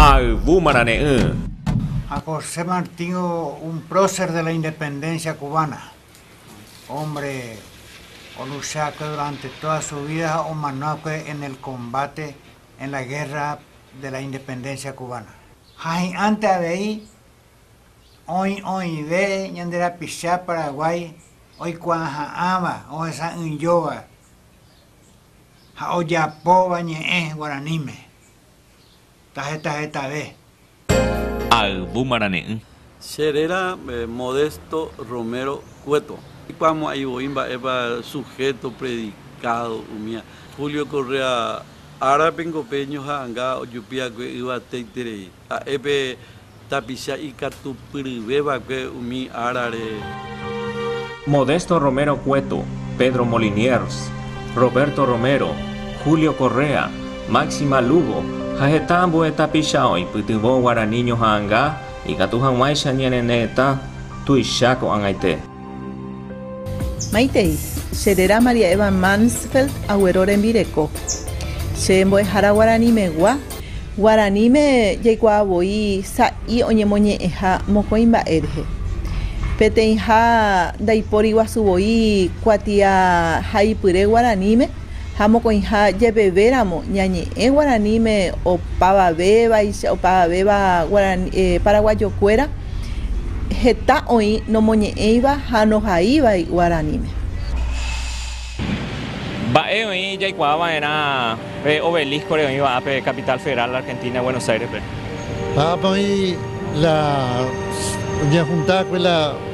Ha yvu marane'ỹ. Ha José Martín un prócer de la independencia cubana, hombre onuséakue durante toda su vida ha omanoakue en el combate en la guerra de la independencia cubana. Ha hi'ãnte avei oĩ oĩve ñande rapicha Paraguay oikuaaha'ãva, ohesa'ỹijóva. ha ojapóva ñe'ẽ guaraníme taheta hetave. Ayvu marane'ỹ. Che réra Modesto Romero Cueto. Ikuaamo'ãi voi mba'épa sujeto predicado umía. Julio Correa árape niko pe ñoha'ãnga ojupi'akue yvateiterei. Ha'e pe tapicha ikatupyryvéva'ekue umi árare. Modesto Romero Cueto, Pedro Moliniers, Roberto Romero, Julio Correa, Máxima Lugo ha heta ambue tapicha oipytyvõ guarani ñoha'ãnga ikatu hag̃uáicha ñane retã tuicha ko'ag̃aite. Maitei, che réra María Eva Mansfeld aguero rembireko, che mbo'ehára guaranimegua. Guaraníme jaikuaa voi sa'i oñemoñe'ẽha mokõi mba'e rehe. Peteĩha ndaipóri guasu voi kuatia haipyre guaraníme, ha mokõiha jepevéramo ñañe'ẽ guaraníme opavavévaicha, opavavéva paraguayokuéra heta oĩ nomoñe'ẽiva ha nohaívai guaraníme. Mba'e oĩ jaikuaa va'erã pe obelisco-re oĩva ápe Capital Federal Argentina, Buenos Aires-pe? Ápe oĩ la ñehundákue la.